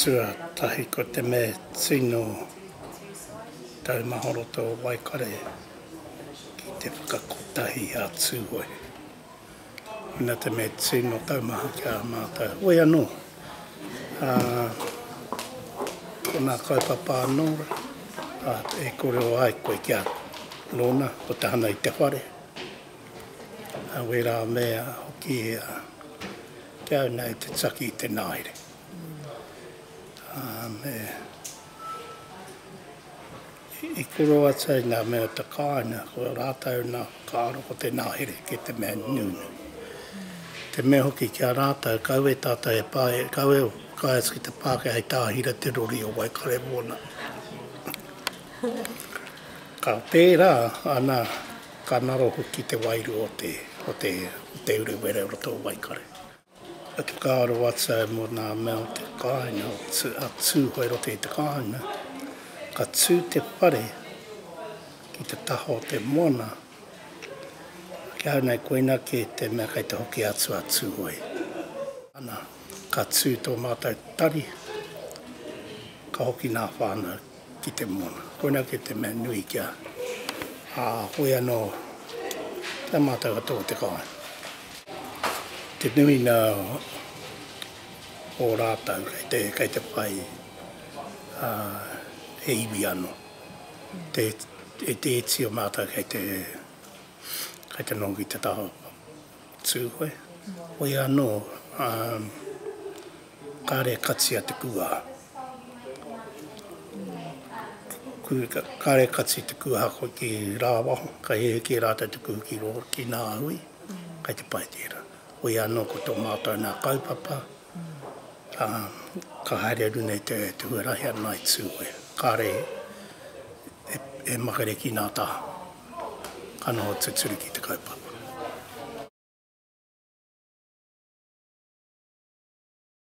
Tuatahi ko te me tino taumaha roto o Waikare ki te whakakotahi a Tūhoe. Ina te me tino taumaha ki a mātou. Hoi anō, ā, ko nā kaupapa anō rā e korero ai koe ki a nōna, ko te hanga i te whare, ā, wērā mea hoki kia au nei te taki i te naere. I koro atu ai ngā mea o te kāinga, ko rātou nā whakaaro ko te ngahere ki te mea nunui. Te mea hoki ki a rātou, kau e tātou he pā, kau e whakaae atu ki te Pākehā hei tāhira te rori o Waikare mōna. Ka pērā ana ka ngaro hoki te wairua o te Urewera i roto o Waikare. He whakaaro atu au mō ngā mea o te kāinga, a Tūhoe i roto i te kāinga. Ka tū te whare ki te taha o te moana, ki ahau nei koina kē te mea kei te hoki atu a Tūhoe. Ana, ka tū tō mātou tari, ka hoki ngā whānau. ki te moana. Koina kē te mea nui kia hoi anō ki a mātou katoa o te kāinga. Te nuinga o rātou kei te whai he iwi anō. E te iti o mātou kei te nongo ki te taha. Tūhoe, Hoi anō, ā, kāre e kati a Te Kūaha. Kāre e kati Te Kūaha koe ki rāwaho, ka hēhē kē rātou te kuhu ki rō, ki nā hui, kai te pai tērā. Hoi anō ko tō mātou nā kaupapa, ā, ka haere atu nei te huarahi a Night Zoo koe. Kāre e makere ki nā taha, ka noho tuturu ki te kaupapa.